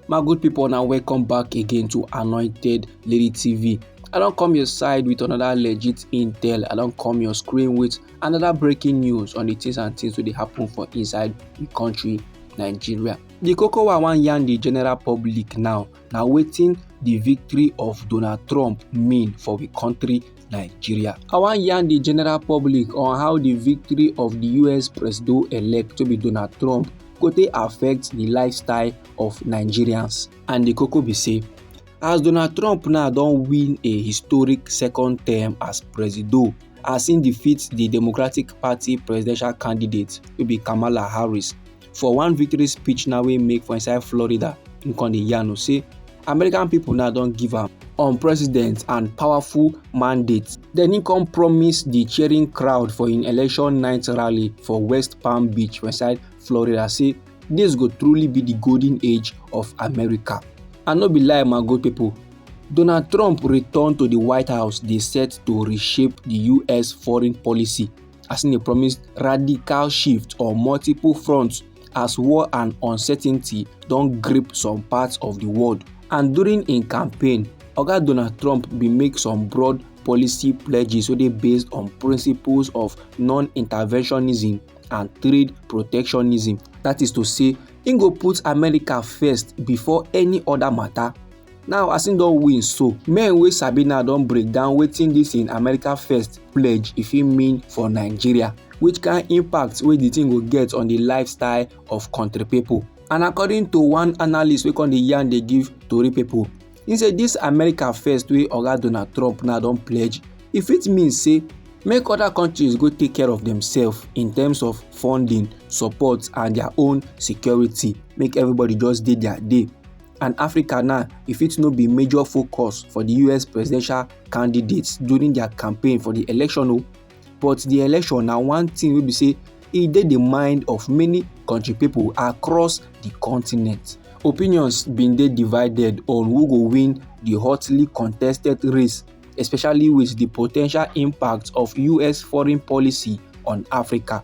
my good people now welcome back again to anointed lady tv i don't come your side with another legit intel i don't come your screen with another breaking news on the things and things wey dey happen for inside the country nigeria The koko wey i wan yarn the general public now na wetin the victory of donald trump mean for the country Nigeria. I wan yarn the general public on how the victory of the US president-elect to be Donald Trump go take affect the lifestyle of Nigerians. And the koko be say, as Donald Trump now don win a historic second term as president, as im defeat the Democratic Party presidential candidate wey be Kamala Harris for one victory speech now wey make for inside florida im con dey yarn o say american pipo now don give am on president and powerful mandate dem im con promise di cheering crowd for im election night rally for west palm beach for inside florida say dis go truly be di golden age of america and no be lie my good pipo donald trump return to di white house dey set to reshape di us foreign policy as im dey promise radical shift on multiple fronts as war and uncertainty don grip some parts of di world and during im campaign oga donald trump bin make some broad policy pledges wey dey based on principles of non-interventionism and trade protectionism dat is to say im go put america first before any oda mata. now as im don win so men wey sabi now don break down wetin dis im america first pledge e fit mean for nigeria which kind impact wey di thing go get on di lifestyle of country pipo and according to one analyst wey come dey yarn dey give tori pipo im say dis america first wey oga donald trump now don pledge e fit mean say make other countries go take care of themselves in terms of funding support and their own security make everybody just dey their day and africa now e fit no be major focus for di us presidential candidates during dia campaign for di election o oh. but di election na one tin wey be say e dey di mind of many kontri pipo across di continent opinions bin dey divided on who go win di hotly contested race especially wit di po ten tial impact of us foreign policy on africa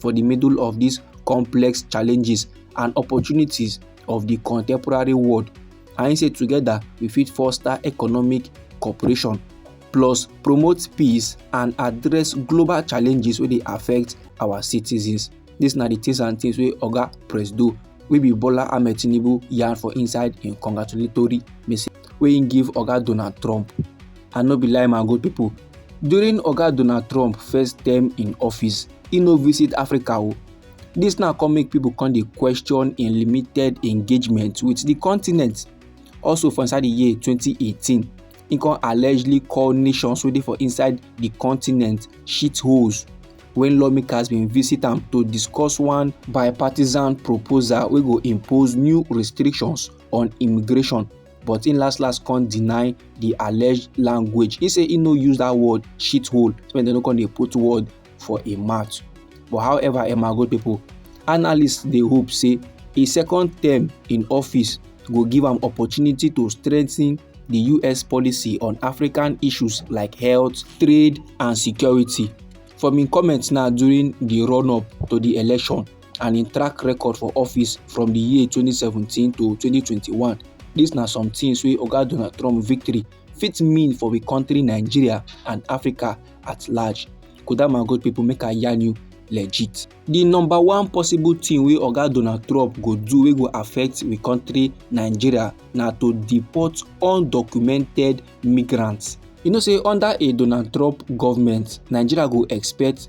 for the middle of these complex challenges and opportunities of the contemporary world. And he said, together we fit foster economic cooperation, plus promote peace and address global challenges where they affect our citizens. This na the things and things where Oga Press do wey be bola ahmed tinubu yarn for inside im congratulatory message wey im give oga donald trump and no be lie my good pipo During Oga Donald Trump first term in office, he no visit Africa o. Oh. This now come make people come dey question im limited engagement with the continent. Also for inside the year 2018, he come allegedly call nations wey dey for inside the continent shitholes when lawmakers bin visit am to discuss one bipartisan proposal wey go impose new restrictions on immigration. but im last last come deny the alleged language He say he no use that word shithole so dem no come dey put word for a mouth but however emma good people analysts dey hope say a second term in office go give am opportunity to strengthen the us policy on african issues like health trade and security from im comments now during di run-up to di election and im track record for office from di year 2017 to 2021 dis na some tins wey oga donald trump victory fit mean for di kontri nigeria and africa at large kodama good pipo make i yarn you legit. di number one possible tin wey oga donald trump go do wey go affect di kontri nigeria na to deport undocumented migrants you know say under a donald trump government nigeria go expect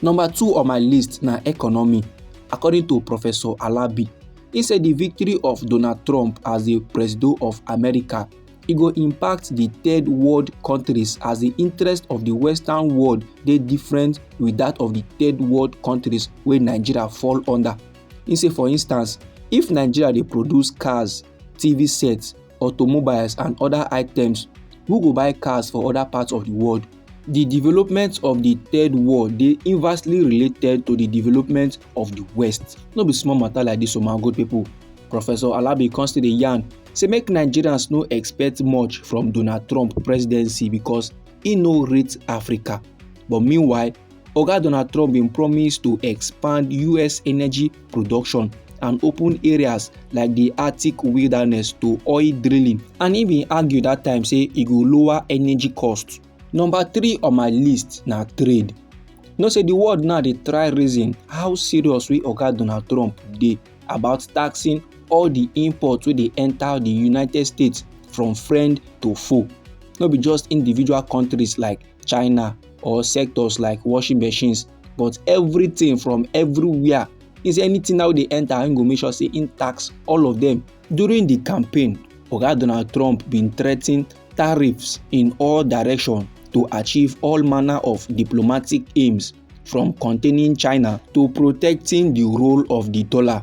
Number two on my list na economy. According to Professor Alabi, he say the victory of Donald Trump as the president of America e go impact the third world countries as the interest of the western world dey different with that of the third world countries wey nigeria fall under. He say for instance if nigeria dey produce cars tv sets automobiles and other items who go buy cars for other parts of the world the development of the third world dey inversely related to the development of the west no be small matter like this o my good people professor alabi come still dey yarn say make nigerians no expect much from donald trump presidency because e no rate africa but meanwhile Oga Donald Trump bin promise to expand US energy production and open areas like di Arctic wilderness to oil drilling and e bin argue dat time say e go lower energy costs. Number three on my list na trade. Know say di world now dey try reason how serious wey Oga Donald Trump dey about taxing all di imports wey dey enta di United States from friend to foe. No be just individual countries like china or sectors like washing machines but everything from everywhere is anything now dey enter im go make sure say im tax all of them during the campaign oga donald trump bin threaten tariffs in all direction to achieve all manner of diplomatic aims from containing china to protecting di role of di dollar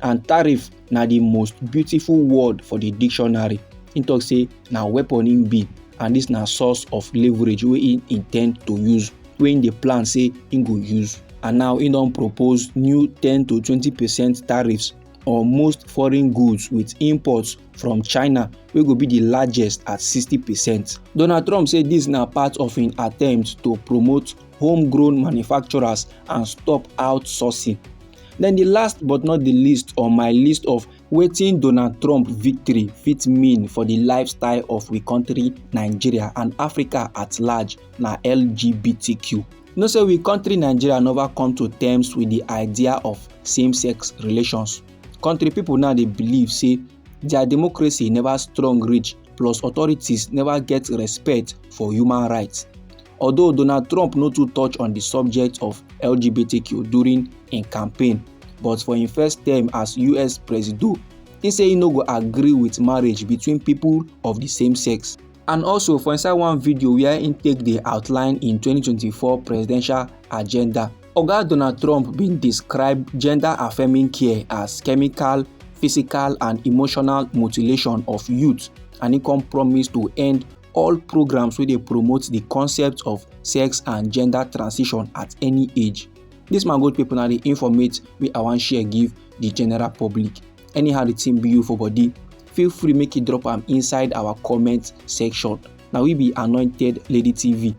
and tariff na di most beautiful word for di dictionary im tok say na weapon im be and dis na source of leverage wey im intend to use wey im dey plan say im go use and now im don propose new ten to twenty percent tariffs on most foreign goods with imports from china wey go be di largest at sixty percent donald trump say dis na part of im attempt to promote homegrown manufacturers and stop outsourcing. Then the last but not the least on my list of wetin Donald Trump victory fit mean for the lifestyle of we country Nigeria and Africa at large na LGBTQ. You know say we country Nigeria never come to terms with the idea of same-sex relations. Country people now dey believe say their democracy never strong reach plus authorities never get respect for human rights. although Donald Trump no too touch on the subject of LGBTQ during im campaign but for im first term as US presido, he say he no go agree with marriage between people of the same sex. And also for inside one video where im take dey outline im 2024 presidential agenda, Oga Donald Trump bin describe gender-affirming care as chemical, physical and emotional mutilation of youth and he come promise to end all programs wey dey promote the concept of sex and gender transition at any age this man good people na the informate wey i wan share give the general public anyhow the thing be you for body feel free make you drop am inside our comment section na we be anointed lady tv